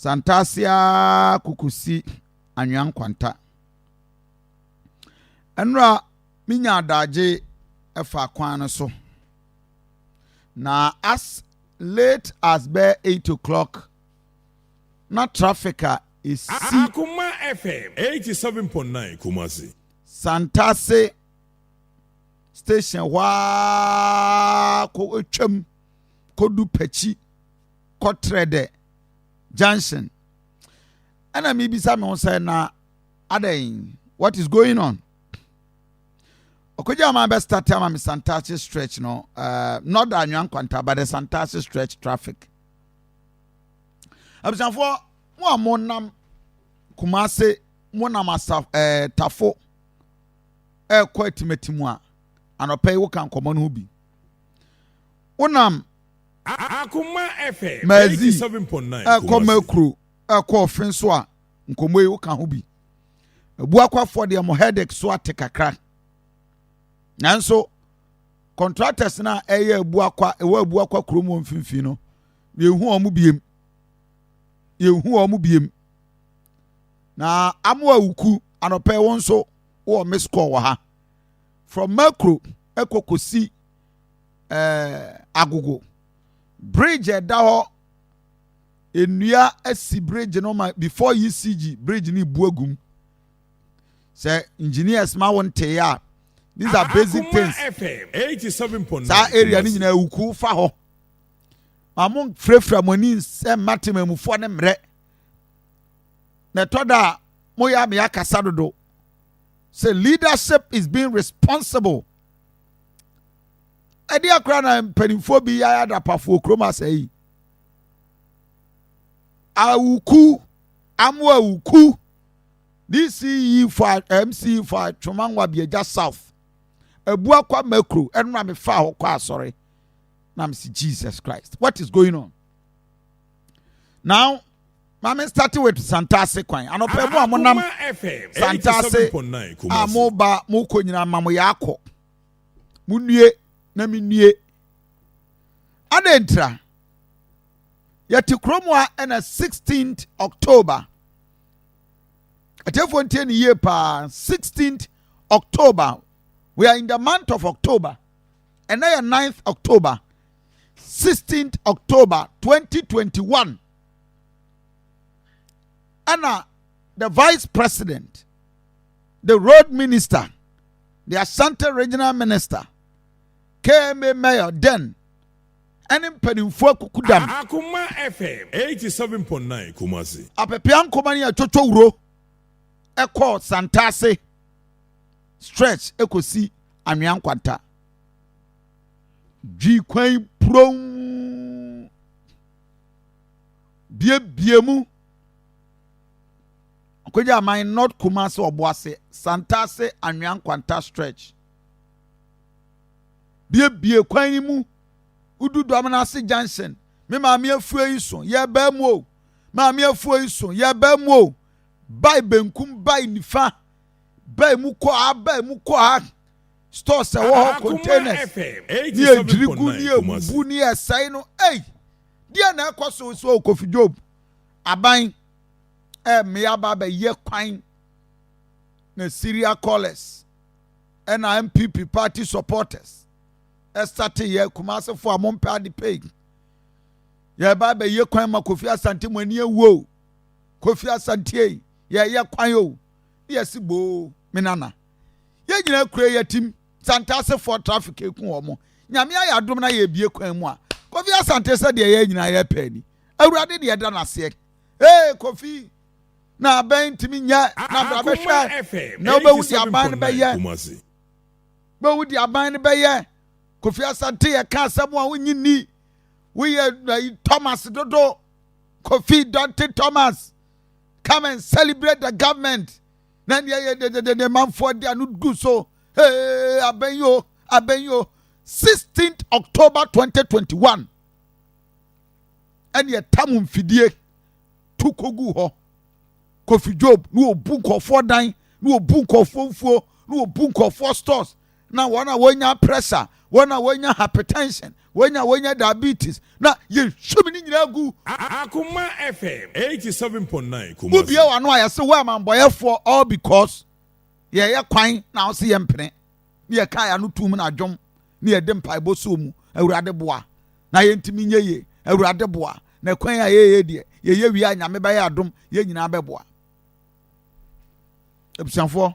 Santase ara kokosi anwea nkwanta. Ɛnora menya adagye ɛfa kwan no so. Na as late as bɛ eight o'clock na traffic a esi. Akoma FM eighty seven point nine Kumasi. Santase station hɔ ara kɔtwam kɔdu pakyi kɔtrɛ dɛ junction ɛna mebisa me ho sɛ na adɛn what is going on ɔkɔgya ma bɛ start ama me santase stretch no uh, not the anwa nkwanta but the santase stretch traffic abusuafoɔ mo a monam kumase monam asa ɛɛ eh, tafo rekɔ atimatim a, anɔpa yi woka nkɔmmɔ no ho bi. Wonam Maazi rekɔ Makuro rekɔ Ɔfen so a, nkɔmmɔ yi woka ho bi. Abuakwafoɔ deɛ mo headache so ate kakra. Nanso, contractors no a ɛyɛ Abuakwa, ɛwɔ Abuakwa kurom wɔ mfimfini no, yɛhu wɔn biem. Yɛhu wɔn biem. na amoa wuku anɔpɛ wo nso wɔ miss call wɔ ha from makro ɛkɔ kɔsi ɛɛ agogo bridge ɛda hɔ nnua asi bridge no ma before ecg bridge no bu agum sɛ engineers ma wo ntee a these are basic things saa area no nyinaa wuku fa hɔ ma mo mfirafira mo ani nsɛm ma temamufoɔ ne mmerɛ na ɛtɔ da a moyɛ a meyɛ akasa dodo sɛ leadership is being responsible ɛde akora na mpanimfoɔ bi yɛ adapafoɔ kurom asɛe yi awuku amu awuku dce fo mce fo atwoma nwa biagya south abu akwa makro ɛno na mefa hɔ kɔ asɔre na mesi jesus christ what is going on Now, maame start with Santase kwan. Anɔpɛ mu a mo nam Santase a mo ba mo kɔ nyinaa ma mo yɛ akɔ. Mo nue na me nue. Adɛn ntira? Yɛte kurom a ɛna 16th October. Atiefoɔ ntie ne yie paa 16th October. We are in the month of October. Ɛnɛ yɛ 9th October. 16 october 2021 ɛna the vice president the road minister the ashanti regional minister kma mayor den ɛne mpanimfoɔ akuku dam akoma fm 87.9 kumasi apepea nkoma ne atwotwo wuro ɛkɔɔ santase stretch ɛkɔsi anwea nkwanta Dwi kwan puronn biebie mu. Ɔkɔgya aman North Kumasi Ɔboase, Santase, Anwea Nkwanta stretch. Biebie kwan yi mu. Wodu Dwamena ase junction. Me maame afuo yi so, yɛbaa mu o. Maame afuo yi so, yɛbaa mu o. Bae benkum, bae nifa. Bae mu kɔ ha, bae mu kɔ ha. stores ɛwɔ hɔ containers ne ɛdwiri gu ne ɛbubu ne ɛsɛe no ei deɛ na ɛkɔ so so okofi job aban ɛmmea ba bɛyɛ kwan na syria callers ɛna mpp party supporters ɛsate yɛ kumasefo a mompɛ ade pei yɛba bɛyɛ kwan ma kofi asante mo ani awuo kofi asante yɛyɛ kwan o ne yɛsi boo menana yɛ nyina kura yɛ tim sante asefoɔ traffic eku wɔn mo nyame ayɛ adom na yɛ ebie kwan mu a kofi asante sɛ deɛ yɛ nyina yɛ pɛɛ ni awurade deɛ da n'aseɛ ee kofi na abɛn ntumi nyɛ na bra bɛhwɛ na wobɛhu deɛ aban no bɛyɛ bɛhu deɛ aban no bɛyɛ kofi asante yɛ ka asɛm a wonyi ni woyɛ thomas dodo kofi dante thomas come and celebrate the government na nea ɛyɛ dededede manfoɔ de ano gu so ee abɛn yi o abɛn yi o sixteenth october twenty twenty one ɛne ɛtam mfidie tu kogu hɔ kofi job na obu nkɔfoɔ dan na obu nkɔfoɔ mfuo na obu nkɔfoɔ stores na wɔn a wɔnya pressure, wɔn a wɔnya hypertension, wɔn a wɔnya diabetes, na yɛhwim ne nyinaa gu. Akoma FM 87.9 Kumasi. Wobie w'ano a yɛse wo amambɔyɛfoɔ all because yɛyɛ kwan na wo se yɛmpene ne yɛka yɛ ano tum na dwom ne yɛde mpaebɔ soo mu awurade boa na yɛntumi nyɛ yie awurade boa na kwan a yɛyɛ deɛ yɛyɛ wie a nyame bɛyɛ adom yɛn nyinaa bɛboa abusuafoɔ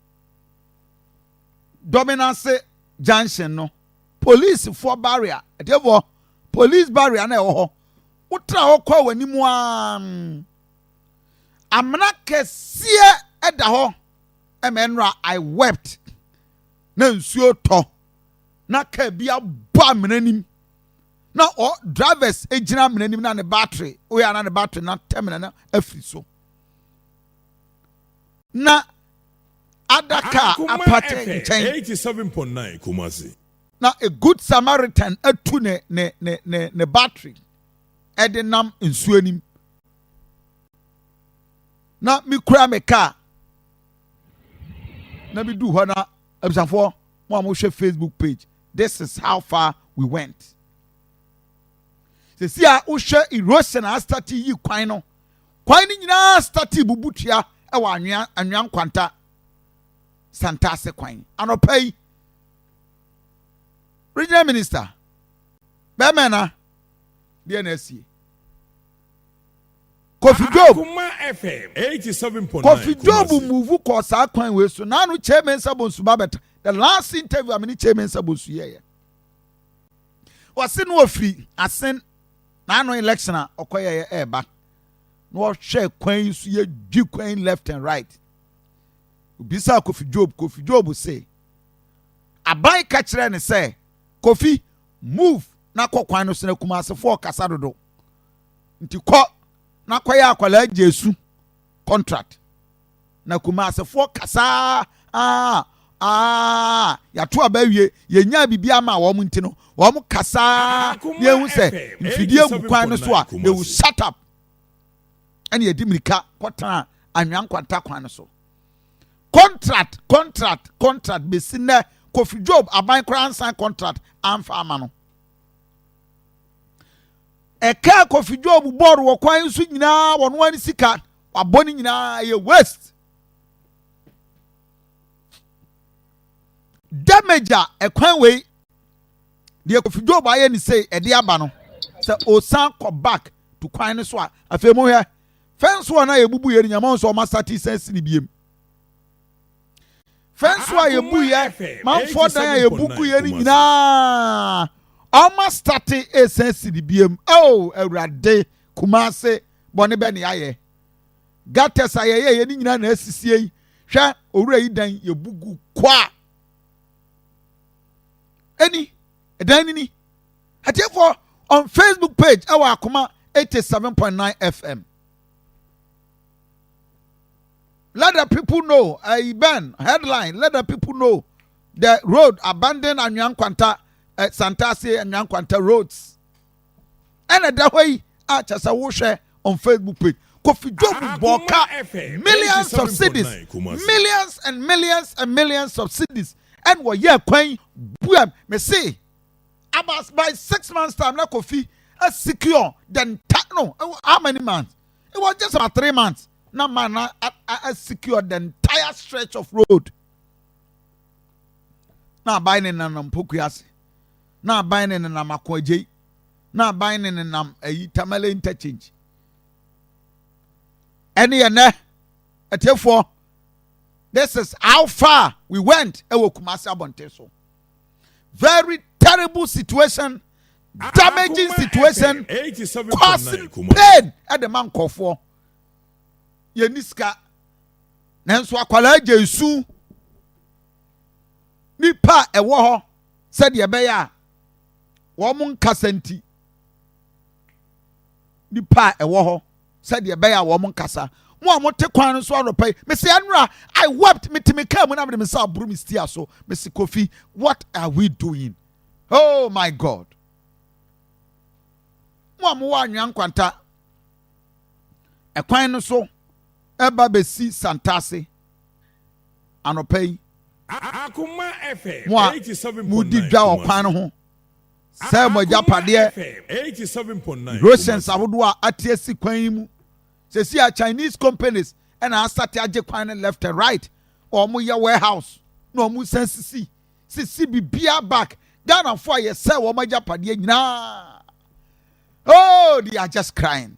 Dɔmenase junction no policefoɔ barrier ɛtiɛfoɔ police barrier na ɛwɔ hɔ wotra hɔ kɔ wɔ anim aa amena kɛseɛ ɛda hɔ ɛmɛ nnora I wept na nsuo tɔ na kaa bi abɔ amena nim na ɔ drivers gyina amena nim na ne battery woyɛ na ne battery na tɛmina na afiri so. Na adaka a apate nkyɛn. Na a good Samaritan atu ne ne ne ne ne battery ɛde nam nsuo anim. Na mekura me kaa na medu hɔ na abusafoɔ mo a mohwɛ Facebook page this is how far we went. Sisi a wohwɛ erosion a astate yi kwan no. Kwae no nyinaa startee bubu tua wɔ Anwea, Anwea Nkwanta, Santase kwan. Anɔpa yi, Regional Minister Bɛmɛna deɛ na asie. Kofi Job Kofi Job muvu kɔɔ saa kwan wei so naanu Kyei Mensah Bonsu ba bɛta the last interview a me ne Kyei Mensah Bonsu yɛɛyɛ ɔse no ɔfiri asen na ano election a ɔkɔyɛ yɛ ɛɛba na ɔhwɛ kwan yi so yɛ dwi kwan left and right obisaa kofi job kofi job se aban ka kyerɛ ne sɛ kofi move na kɔ kwan no so na kumasefoɔ kasa dodo nti kɔ na kɔyɛ akwadaa gye su contract Na Kumasefoɔ kasaa aa aa yato aba awie yɛnyaa biribiara maa wɔn nti no wɔn kasaa na yɛhu sɛ mfidie gu kwan no so a they will shut up ɛna yɛde mirika kɔtena anwea nkwanta kwan no so contract contract contract bɛsi nnɛ kofi job aban koraa nsan contract amfa ama no ɛkaa kofi job bɔɔl wɔ kwan so nyinaa wɔn ani sika wabɔ ne nyinaa ɛyɛ waste damage a ɛkwan wei deɛ kofi job ayɛ ne sei ɛde aba no sɛ osan kɔ back to kwan no so a afei mo hwɛ fɛnso a na yɛbubu yɛ no nyama nso ɔma sati sɛn si ne biem fɛnso a yɛbu yɛ manfoɔ dan a yɛbubu yɛ no nyinaa ɔma sati ɛsɛn si ne biem oh awurade kumase bɔne bɛn ne yɛayɛ? Gutters a yɛyɛ yɛ ne nyinaa na asisie yi. Hwɛ owura yi dan yɛbu gu kwa. Ɛni, ɛdan ni ni. Atiefoɔ on Facebook page ɛwɔ akoma 87.9 FM. Let the people know, uh, eh, Ben, headline, let the people know the road abandoned Anyan Kwanta, uh, eh, Santase Anyan Kwanta roads. ɛna ɛda hɔ yi a kyɛ sɛ wohwɛ on facebook page kofi job bɔɔ ka millions of cities millions and millions and millions of cities ɛna wɔyɛ kwan buam me se about by six months time na kofi a secure the entire no how many months it was just about three months na man na a secure the entire stretch of road na aban ne nanam pokuase na aban no nenam Ako Adjei, na aban no nenam ayi Tamale Interchange. Ɛne yɛ nɛ, atiefoɔ, this is how far we went ɛwɔ Kumasi abɔnten so. Very terrible situation, damaging situation, causing pain ɛde ma nkɔfoɔ. Yɛn ni sika, nanso akwadaa gye nsu. Nipa ɛwɔ hɔ. sɛdeɛ ɛbɛyɛ a wɔn nkasa nti nipa a ɛwɔ hɔ sɛdeɛ ɛbɛyɛ a wɔn nkasa mo a mote kwan no so anɔpa yi mesi ɛnora i wept metumi kaa mu na mede me nsa aboro me stia so mesi kofi what are we doing oh my god mo a mowɔ anwea nkwanta ɛkwan no so ɛba bɛsi santase anɔpa yi mo a modi dwa wɔ kwan no ho sɛ mo agyapadeɛ rosens ahodoɔ a ate asi kwan yi mu sɛsi a chinese companies ɛna asate agye kwan no left and right wɔn yɛ warehouse na wɔn san sisi sisi bibia back ghanafoɔ a yɛsɛ wɔn agyapadeɛ nyinaa oh they are just crying.